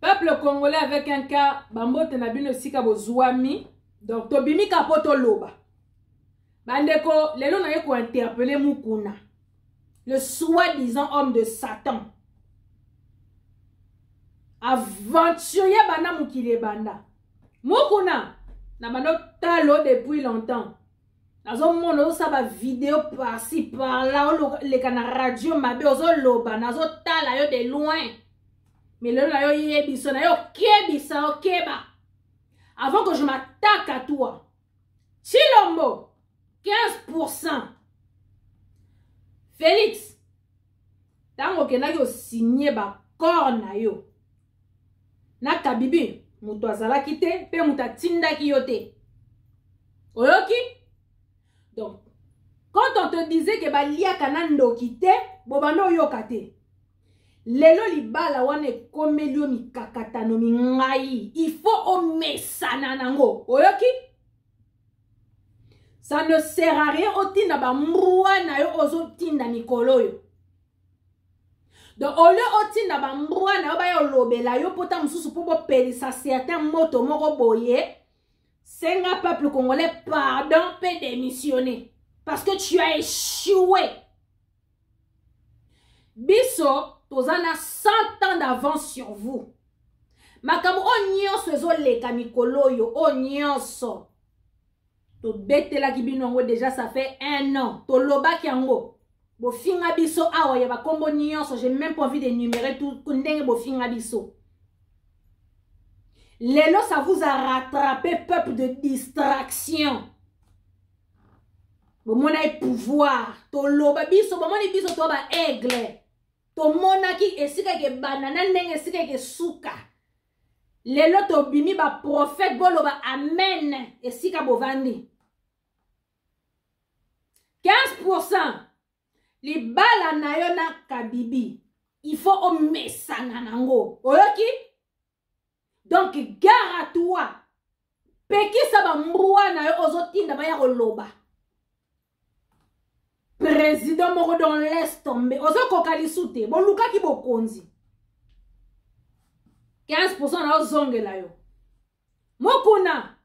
peuple congolais avec un cas bambote na bino esika bozuami donc tobimi ka mpo toloba bandeko lelo naye kointerpele mukuna le soi-disant homme de satan aventurier banda mokili ebanda mukuna na banda talo depuis longtemps nazomona ozosala bavideo parci parla oleka na radio mabe ozoloba nazotala yo de loin milelo na yo yebiso na yo okebisa okeba avant que je m'attaque à toi chilombo 15 pourcent félix ntango okendaki osigne bacor na yo na kabibi moto azalaki te mpe moto atindaki yo te oyoki donc quand on te disait ke baliaka na ndoki te bobanda oyoka te lelo libala wana ekomeli yo mikakatano mingai il faut omesana nango oyoki ça ne sert à rien otinda bambwa na yo ozotinda mikolo oyo donc au lieu otinda bambwa na yo baya olobela yo mpota mosusu mpo bopelisa certain moto moko boye senga peuple congolais pardon mpe démissionner parce que tu as échoué biso toza na 100 ans d'avance sur vous makambo oyo nyonso ezoleka mikolo oyo oyo nyonso tobetelaki bino yango deja ça fait un an tolobaki yango bofinga biso awa ya bakombo nyonso j'ai même pas envie de numere tout ndenge bofinga biso lelo ça vous a rattrapé peuple de distraction bomonaki pouvoir toloba biso bomoni biso to baaigle tomonaki esika ekebanda na ndenge esika ekesuka lelo tobimi baprofete boloba amen esika bovandi 15 libala na yo na kabibi il faut omesana nango oyoki donc gare à toi pekisa bambwa na yo ozotinda baya koloba president moko dans l'est tombe ozokoka lisu te bolukaki bokonzi 15 pourcent na ozongela yo mokuna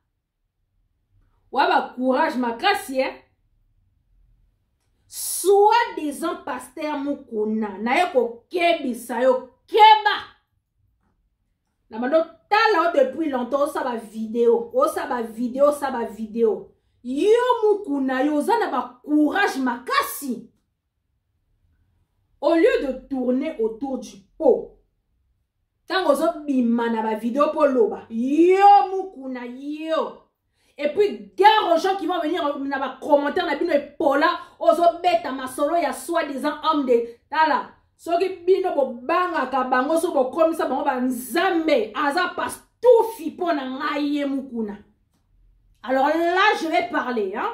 wa bacourage makasi e soit disant paster mokuna naye kokebisa yo keba na banda otala yo depuis longtemps osa bavideo osa bavideo osa bavideo yo mokuna yo oza na bacourage makasi au lieu de tourner autour du pot ntango ozobima na bavideo mpo oloba yo mokuna yo et puis gare aux gens qui vont venir na bacommentaire na bino epola ozobeta masolo ya soi disant homme de tala soki bino bobangaka bango so bokomisa bango banzambe aza pastufi mpo na ngai ye mokuna alors là je vais parler hein?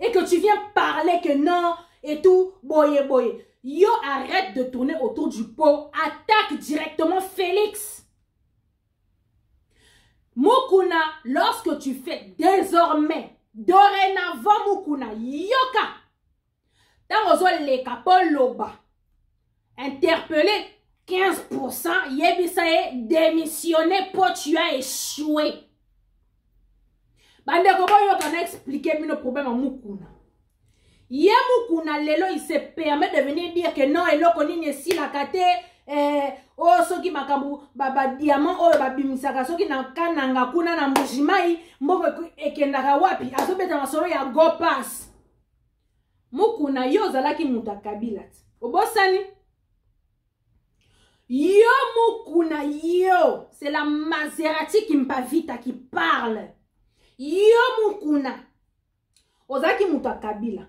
et que tu viens parler que non et tout boye boye yo arrête de tourner autour du pot attaque directement félix mukuna lorsque tu fais désormais dorénavant mukuna yoka ntango ozoleka mpo loba interpelle 15% yebisa ye démissionner po tu as échoué bandeko boyoka na explike bino problème ya mukuna ye mukuna lelo il se permet de venir dire que non eloko nini esilaka te eh, o oh, soki makambo badiamant oyo babimisaka soki na kananga kuna na mbujimai mbongo ekendaka wapi azobeta masolo ya gopas mukuna yo ozalaki moto ya kabila te obosani yo mukuna yo c'est la maserati kimpavita qui parle yo mukuna ozalaki moto ya kabila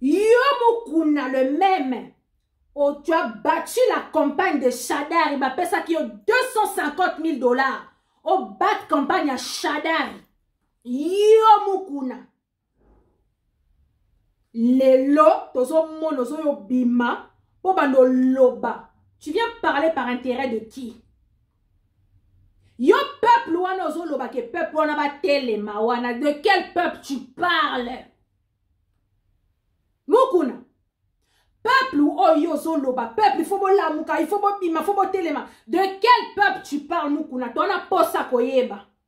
yo mukuna le meme oh, tu as battu la campagne de shadari bapesaki yo 250 000 dollars obat oh, campagne ya shadari yo mukuna lelo tozomona ozoyo bima mpo bando loba tu viens parler par intérêt de qui yo peuple wana ozoloba ke peuple wana batelema wana de quel peuple tu parles mokuna peuple oyo ozoloba peuple ifo bolamuka ifo bobima ifo botelema de quel peuple tu parle mokuna tona posa koyeba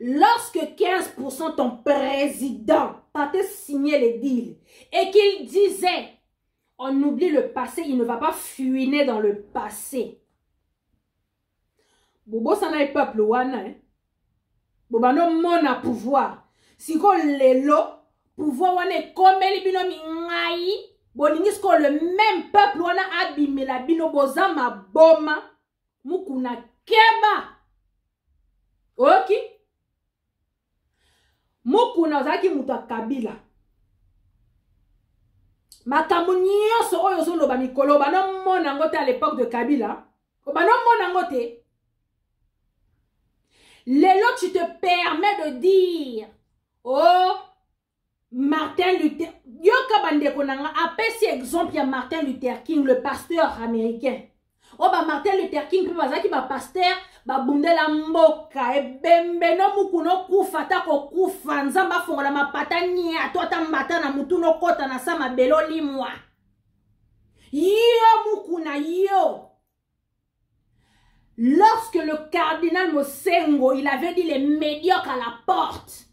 Lorsque 15% ton président partait signer les deals et qu'il disait on oublie le passé, il ne va pas fuiner dans le passé. bobosana ye peuple wana eh? bobanda omona pouvoir sikoyo lelo pouvoir wana ekomeli bino mingai bolingi sikoyo le même peuple wana abimela bino boza maboma mukuna keba oyoki mukuna ozalaki moto ya kabila makambo nyonso oyo ozoloba mikolo obanda omona yango te à l'époque de kabila obanda omona yango te lelo tu te permets de dire oh Martin Luther yoka bandeko na nga apesi exemple ya Martin Luther King le pasteur américain oyo oh, ba Martin Luther King mpe bazalaki ba pasteur babundela mboka ebembe no muku nokufa ata kokufa nzambe afongola mapata nia to ata mbata na mutu nokota na sa mabele olimwa yo muku na yo Lorsque le cardinal Mosengo, il avait dit les médiocres à la porte,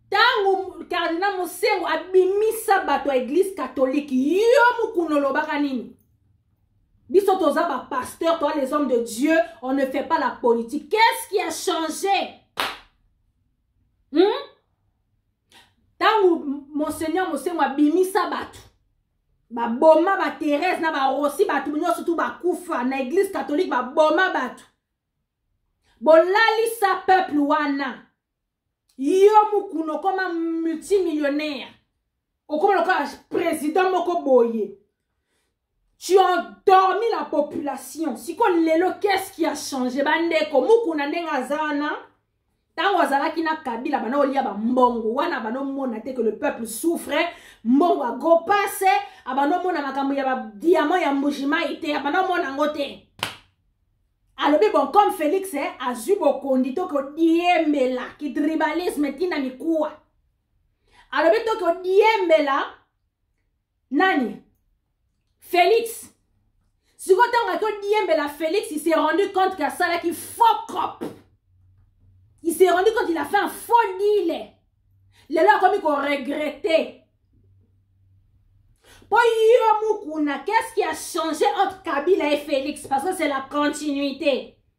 tango cardinal Mosengo abimisa bato ya église catholique, yo mukuna olobaka nini? Biso toza ba pasteurs, toi les hommes de Dieu, on ne fait pas la politique. Qu'est-ce qui a changé? Hmm? Tango Monseigneur Mosengo abimisa bato, baboma ba therese na barosi bato nyonso tu bakufa na eglise catholique baboma bato bolalisa peuple wana yo mokuna okoma multimillionnaire okoma lokola président moko boye tu endormi la population sikoyo lelo qu'est-ce qui a changé bandeko mukuna ndenge aza wana ntango azalaki na kabila bana olia bambongo wana bana omona te que le peuple souffre mbongo ya gopase abana omona makambo ya badiamant ya mbujimai te abana omona yango te alobi bon comme félix eh, azwi bokondi to kodiembela kitribalisme ntina mikuwa alobi to kodiembela nani felix sikoyo ntango ake odiembela felix il s'est rendu compte que asalaki faux cop il s'est rendu compte il a fait un faux dile lelo akomi koregrete mpo yo mukuna qu'est ce qui a changé entre kabila et félix parce que c'est la continuité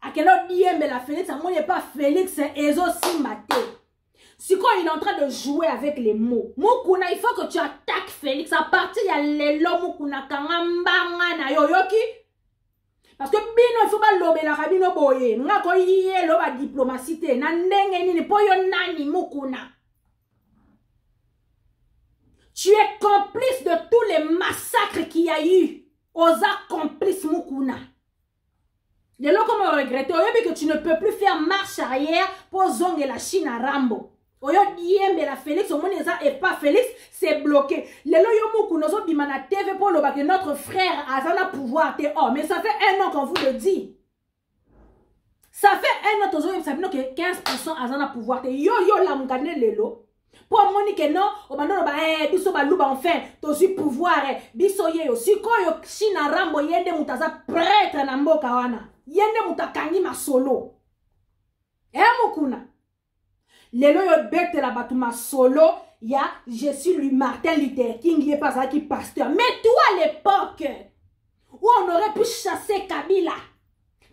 akenda odiyembela felix amoni epa felix ezosimba te sikoyo il est en train de jouer avec les mots mukuna il faut que tu attaques félix à partir ya lelo mukuna kanga mbanga na yo oyoki parce que bino il faut balobelaka bino boye nga koyelo badiplomatie te na ndenge nini mpo yo nani mukuna tu es complice de tous les massacres qui a eu oza complice mukuna lelo koma oregrete oyebi ke tu ne peux plus faire marche arrière mpo ozongela chine a rambo oyo diembela félix omoni eza epa félix c'est bloqué lelo yo mokuna ozobima na tv mpo oloba ke notre frère aza na pouvoir te oh mais ça fait un an qu'on vous le dit ça fait un an tozoyebisa bino ke 15 pourcent aza na pouvoir te yo yo olamuka nde lelo mpo amoni ke non obanda oloba eh, biso baluba enfin tozwi pouvoir eh, biso yeyo sikoyo china rambo ye nde moto aza pretre na mboka wana ye nde moto akangi masolo e eh, mokuna lelo oyo ebetela bato masolo ya je suis lui martin luther king ye mpe azalaki pasteur mais toi à l'époque où on aurait pu chasser kabila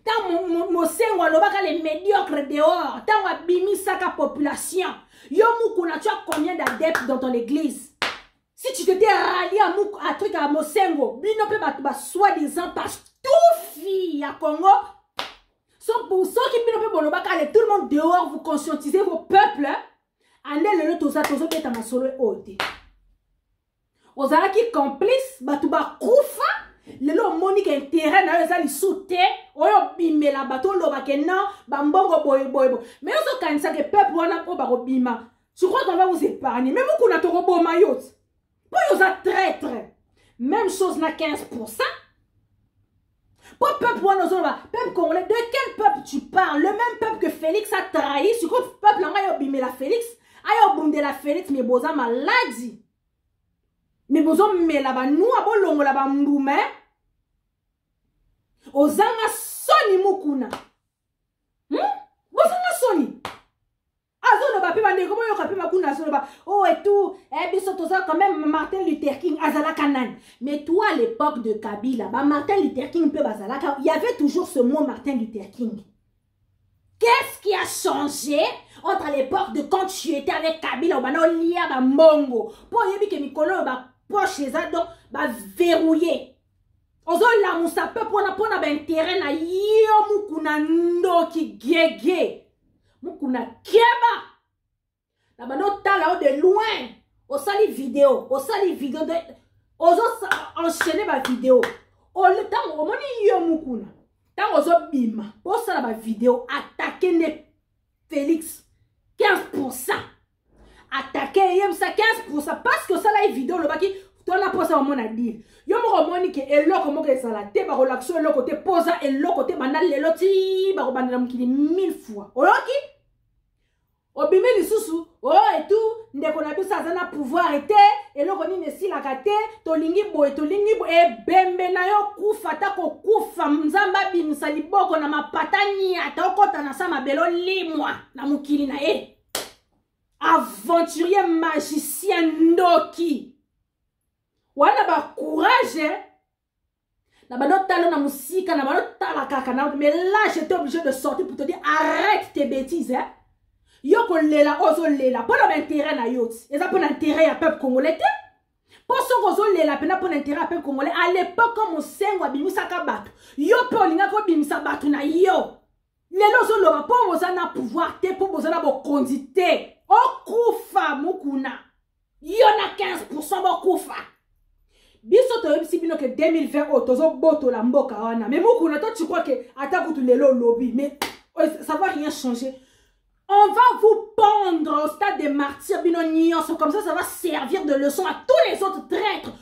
ntango mosengo alobaka le médiocre dehors ntango abimisaka population yo mukuna tu as combien d'adepte dans ton église si tu t'étais rallié à, Muk, à truc à mosengo bino mpe bato basoi disant pastufi ya congo soki bino mpe bolobaka ale tout le monde dehors vous conscientisez vos peuples ande lelo toza tozobeta masolo oyo te ozalaki complice bato bakufa lelo omoni ke interet na yo eza lisu te oyo obimela bato oloba ke non bambongo boye boye boye me ozokanisa ke peuple wana mpo bakobima je crois qu'on va vous épargner meme kuna tokoboma yo mpo yo oza traitre même chose na 15 pourcent Pour peuple Wanozoloba, peuple congolais, de quel peuple tu parles Le même peuple que Félix a trahi, ce que peuple là, yo bimé la Félix, ayo bundé la Félix, mais boza maladie. Mais bozo mé la ba nous abo longo la ba mboumé. Hein? Ozanga soni mukuna. Hmm? Bozo nga soni. azoloba mpe bandeko boyoka mpe bakuna azoloba o oh, etu eh, biso toza quand même martin luther king azalaka nani mais toi à l'époque de kabila ba martin luther king mpe bazalaka y avait toujours ce mot martin luther king qu'est-ce qui a changé entre l'époque de quand tu étais avec kabila obanda olia bambongo mpo oyebi ke mikolo oyo bapoche eza donc baverrouille ozolamusa pepe wana mpo na baintere na yo mukuna ndoki gege mukuna keba na banda otala yo de loin osali video osali video de ozo enchaîne bavideo ntango omoni yo mukuna ntango ozobima mpo osala bavideo atake nde félix 15 pourcent atake eyebisa 15 parce que osala ye video olobaki tona mposa omona dile yo moko omoni ke eloko moko ezala te bakolakisa eloko te mpoza eloko te banda lelo ti bakobandela mokili mille fois oyoki obimi lisusu o oh, etu ndeko na biso aza na pouvoir te eloko nini esilaka te tolingi boye tolingi boye ebembe na yo kufa ata kokufa nzambe abimisa liboko na mapata niata okota na sa mabele olimwa na mokili na ye aventurier magicien ndoki wana bacourage na bando tala na mosika na bando tala kaka na mais là j'étais obligé de sortir pour te dire arrête tes bêtises hein? yo kolela ozolela mpo na baintérêt na yo ti eza mpo na intérêt ya peuple congolais te mpo soki ozolela mpena mpo na intérêt ya peuple congolais à l'époque mosengo abimisaka bato yo mpe olingaki obimisa bato na yo lelo ozoloba mpo boza na pouvoir te mpo boza na bokonzi te okufa mokuna yo na 15 pourcent bokufa biso toyebisi bino ke 2020 oyo tozobotola mboka wana me mokuna to tu crois ke ata kutu lelo olobi mais euh, ça va rien changer on va vous pendre au stade des martyrs bino nyonso comme ça ça va servir de leçon à tous les autres traîtres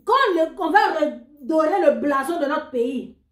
quand le, on va redorer le blason de notre pays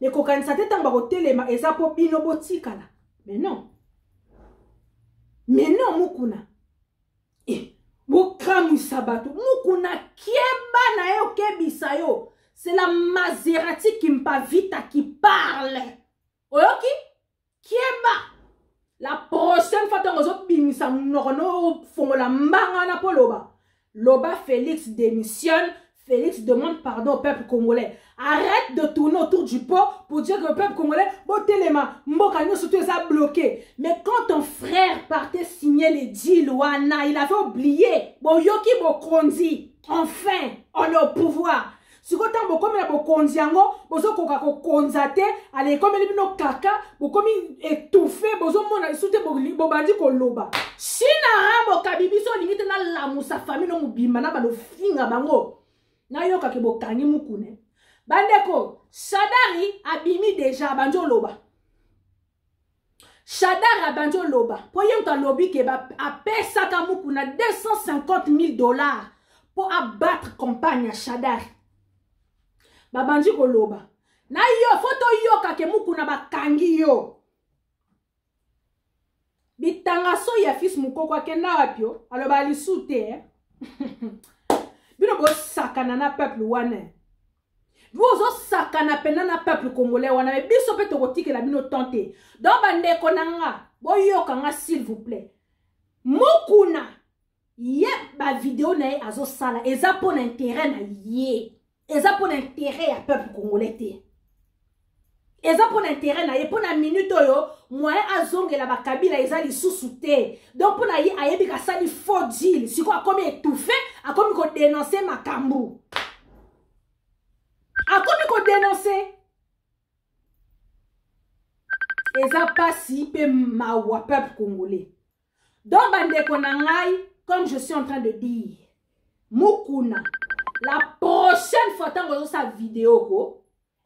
mais kokanisa te ntango bakotelema eza mpo bino botikala mais non mais non mukuna eh, bokamwisa bato mukuna keba na ye okebisa yo c'est la maserati kimpavita qui parle oyoki keba la prochaine fois ntango ozobimisa monoko no ofongola mbanga wana mpo loba loba félix démissionne Félix demande pardon au peuple congolais. Arrête de tourner autour du pot pour dire que le peuple congolais, Botelema, Mboka, nous surtout, ça bloqué. Mais quand ton frère partait signer les deals, Wana, il avait oublié. Boyoki Bokondi, enfin, on est au pouvoir. sikoyo ntango bokomi na bokonzi yango bozokoka kokonza te ala ekomeli bino kaka bokomi etouffe bozomona lisu te bobandi koloba shina rambo kabi biso olingi te nalamusa famille no mobimba na balofinga bango nayokaki bokangi mokune bandeko sadari abimi deja abandi oloba shadar abandi oloba mpo ye moto alobi ke apesaka mukuna 250 000 dollars mpo abattre campagne ya shadar babandi koloba na yo fo toyoka ke mukuna bakangi yo bitanga so ya fils mukoko akenda wapi yo aloba lisu te eh? bino bosakana na peuple wana bo ozosakana mpenza na peuple congolais wana me biso mpe tokotikela bino temps te donc bandeko na nga boyoka nga s'il vous plaît mokuna ye bavideo na ye azosala eza mpo na intere na ye eza mpo na intere ya peuple congolais te eza mpo na intere na ye mpo na minute oyo moyen azongela bakabila eza lisusu te donc mpo na ye ayebi kasali faux deal sikoyo akomi etouffe akomi kodenonse makambo akomi kodenonse eza mpasi mpe mawa peuple congolais donc bandeko na ngai comme je suis en train de dire mukuna la prochaine fois ntango ozosala video ko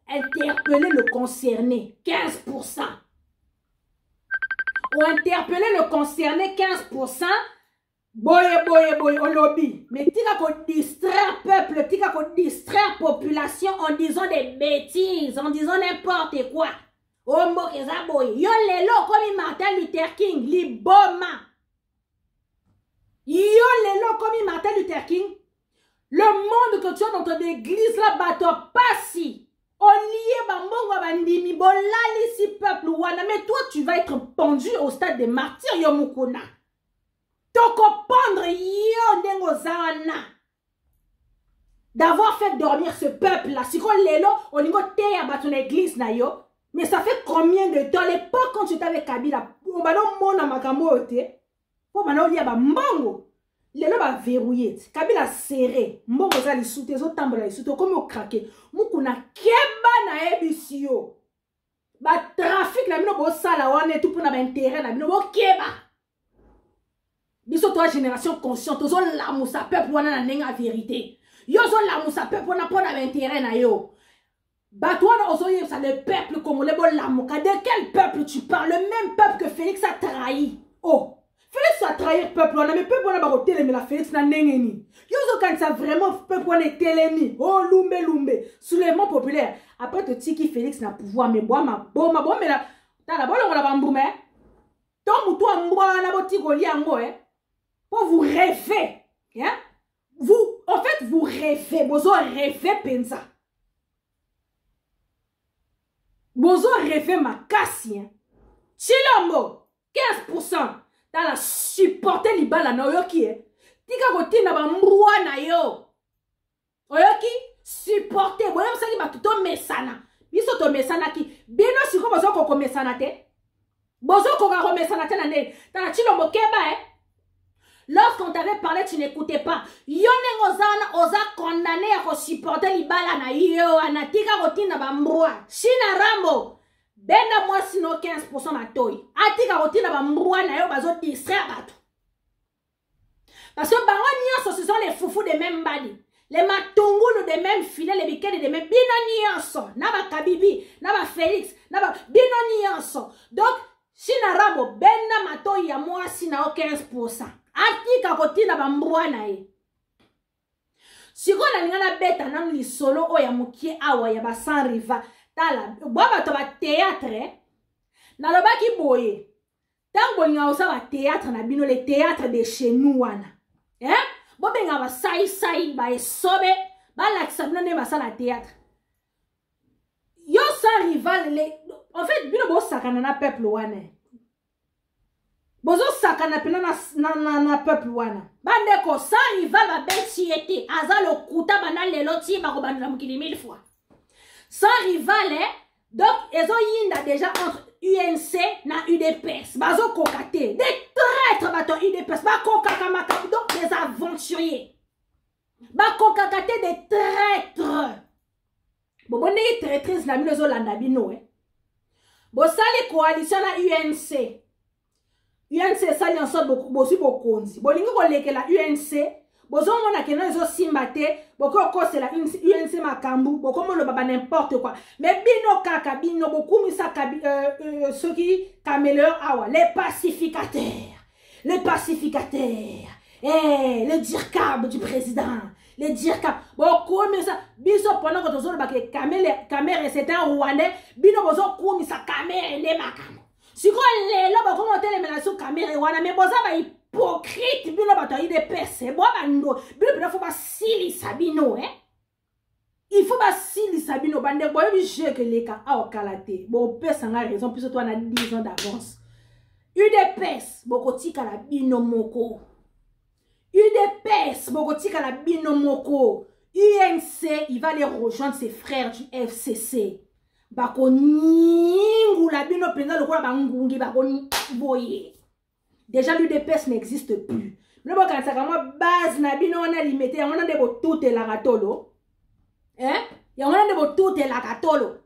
interpeller le concerné 15%. Ou interpeller le concerné 15%. Boye, boye, boye, au lobby. Mais tika ko distraire peuple, tika ko distraire population en disant des bêtises, en disant n'importe quoi. Ombo keza boye. Yo lelo, comme Martin Luther King, liboma. Yo lelo, comme Martin Luther King, le monde que tu as dans ton église la bato ya pasi olie bambongo ya bandimi bolalisi peuple wana mais toi tu vas être pendu au stade de martyr yo mokuna tokopendre yo ndenge oza wana d'avoir fait dormir ce peuple là sikoyo lelo olingi oteya bato na église na yo mais ça fait combien de temps l'époque quand tu étais avec kabila obanda omona makambo oyo te mpo banda olia bambongo lelo baverrouille kabila serre mbongo eza lisu te ezotambola lisu te okomi okrake mukuna keba nayebisi yo batrafike na bino bosala wana etu mpona baintere na bino bokeba biso toa génération consciente tozolamusa peuple wana na ndenge ya verité yo ozolamusa peuple wana mpo na baintere na yo bato wana ozoyebisa le peuple congolais bolamuka de quel peuple tu parle le même peuple que félix a trahi oh félix atrahir peuple wana me peuple wana bakotelemela félix na ndenge nini yo ozokanisa vraiment peuple wana etelemi o oh, lumbe lumbe soulèvement populaire après totiki félix na pouvoir me bwa maboma bomela tala bolongola bambuma eh? to motu ya mbwa wana botiki kolia yango eh? po vous reve eh? vous en fait vous rêvez bozo rêve mpenza bozo rêve makasi hein? chilombo 15 pourcent tala supporte libala na oyoki e tika kotinda bambwa na yo oyoki supporte boyebisaki bato tomesana biso tomesanaki bino sikoyo boza kokomesana te bozo koka komesana te na nde tala chilombo keba eh? lorsqu'on t'avait parlé tu n'écoutais pas yo ndenge oza wana oza condamné ya kosupporte libala na yo wana tika kotinda bambwa china rambo benda mwasi no 15 matoi atika kotinda bambwa na yo bazodistraire bato Parce que bango nionso ce sont les foufous de même mbadi. Les matungulu de même filet, les bikele de même. Bino nionso, na ba Kabibi, na ba Felix, na ba bino nionso. Donc Shina Rambo benda matoyi ya mwasi na yo 15%. Atika kotina ba mbwa na ye. Sikoyo nalinga nabeta nanu lisolo oyo ya mokie awa ya ba sans riva. Tala, bwa bato ba théâtre, nalobaki boye. ntango bolingaka kosala bateatre na bino le teatre de chez nous wana eh? bobengaka basaisai baesobe balakisa bino nde basala teatre yo sa rival le en fait bino bosakana na peuple wana bozosakana mpena na, na, na, na peuple wana bandeko sa rival babeti ye te aza lokuta banda lelo ti bakobandela mokili mille fois sa rival eh? donc ezoyinda déjà entre unc na udps bazokoka te des traitres bato ya udps bakokaka makambo donc des aventuriers bakokaka te des traitres bobo ndenge traitrise na bino ezolanda bino e eh? bosali coalition na unc unc esali yanso bozwi bokonzi bolingi kolekela unc bozomona keno ezosimba te bokoki kokosela unc makambo bokomi oloba ba n'importe quoi me bino kaka bino bokumisa euh, euh, soki cameleur awa le pacificateur le pacificateur eh, le dircab du président le dircab bokumisa biso mpona ko tozolobaka kamere c'est un rwandais bino bozokumisa kamere nde makambo sikoyo lelo bakoma otelemela su kamere wana me boza ba hypocrite bino bato ya udps bwa bando bino mpena fo basilisa bino eh? il faut basilisa bino bandeko boyebi jeu keleka awa kala te bopesa ngai raison mpiso to wana 10 ans d'avance udps bokotikala bino moko udps bokotikala bino moko unc il va les rejoindre ses frères du fcc bakonyingula bino mpenza lokola bangungi bakoboye déjà l'udps n'existe plus bino bokanisaka mwa base na bino wana limete yango wana nde botutelaka tolo eh? yango wana nde botutelaka tolo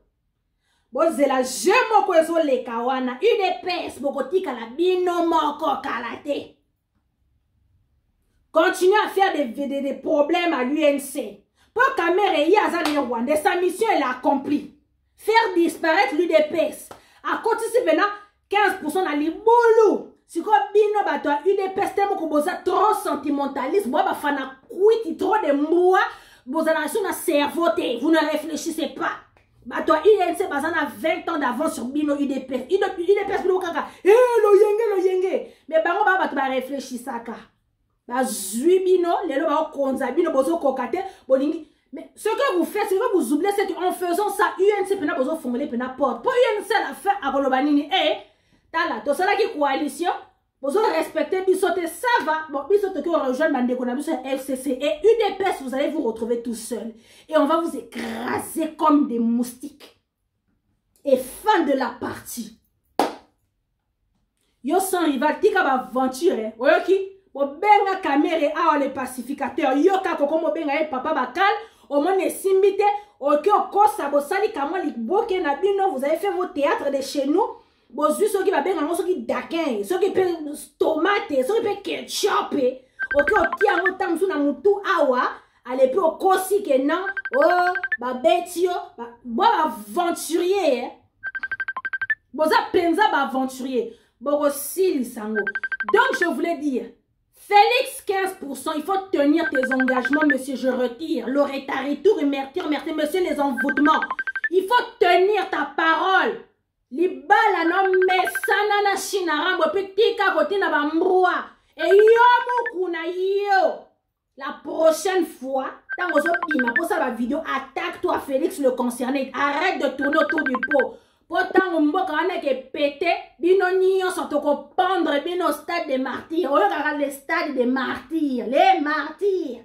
bozela je moko ezoleka wana udps bokotikala bino moko kala te continue à faire des, des, des, des problèmes à l'UNC. Pour Kamere, il aza ne Rwanda, sa mission elle a accompli. Faire disparaître l'UDPS. À côté c'est maintenant 15% na libulu. Siko bino bato ya UDPS te moko boza trop sentimentaliste, boa bafana kwiti trop de mbua, bozala sur na cerveau te, vous ne réfléchissez pas. bato ya inc baza na 20 ans d'avance sur bino udps udps bino kaka e loyenge loyenge me bango baa bato bareflechisaka bazwi bino lelo baokonza bino bozokoka te bolingi mais ce que vous faites ce que vous oubliez c'est que en faisant ça unc mpena bozofongole mpena porte mpo unc na fin akoloba nini e eh, tala tosalaki coalition bozo respecter biso te ça va bon biso toki rejoindre bandeko na biso ya fcc et udps vous allez vous retrouver tout seul et on va vous écraser comme des moustiques et fin de la partie yo sans rival tika baaventure eh. oyoki bobenga kamere awa le pacificateur yo kaka okoma obenga ye papa bakal omoni esimbi te oki okosa bosali kamwa liboke na bino vous avez fait vos théâtre de chez nous bozwi soki babenga yango soki dakin soki mpe tomate soki mpe ketchup oke otia yango ntango mosusu na motu awa ale mpe okosi ke non o oh, babeti yo bo baaventurier eh. boza mpenza baaventurier bokosilisa yango donc je voulais dire Félix 15%, il faut tenir tes engagements, monsieur, je retire. Le retard, retour, merci, merci, monsieur, les envoûtements. Il faut tenir ta parole. libala no mesana na shina rambo mpe tika kotina bambwa eyo moku na yo la prochaine fois ntango ozobima mposala bavideo attaque toi félix le concerné arrête de tourner autour du pot mpo ntango mboka wana eke pete bino nyonso tokopendre bino stade de martyr oyokaka le stade de martyr le martyr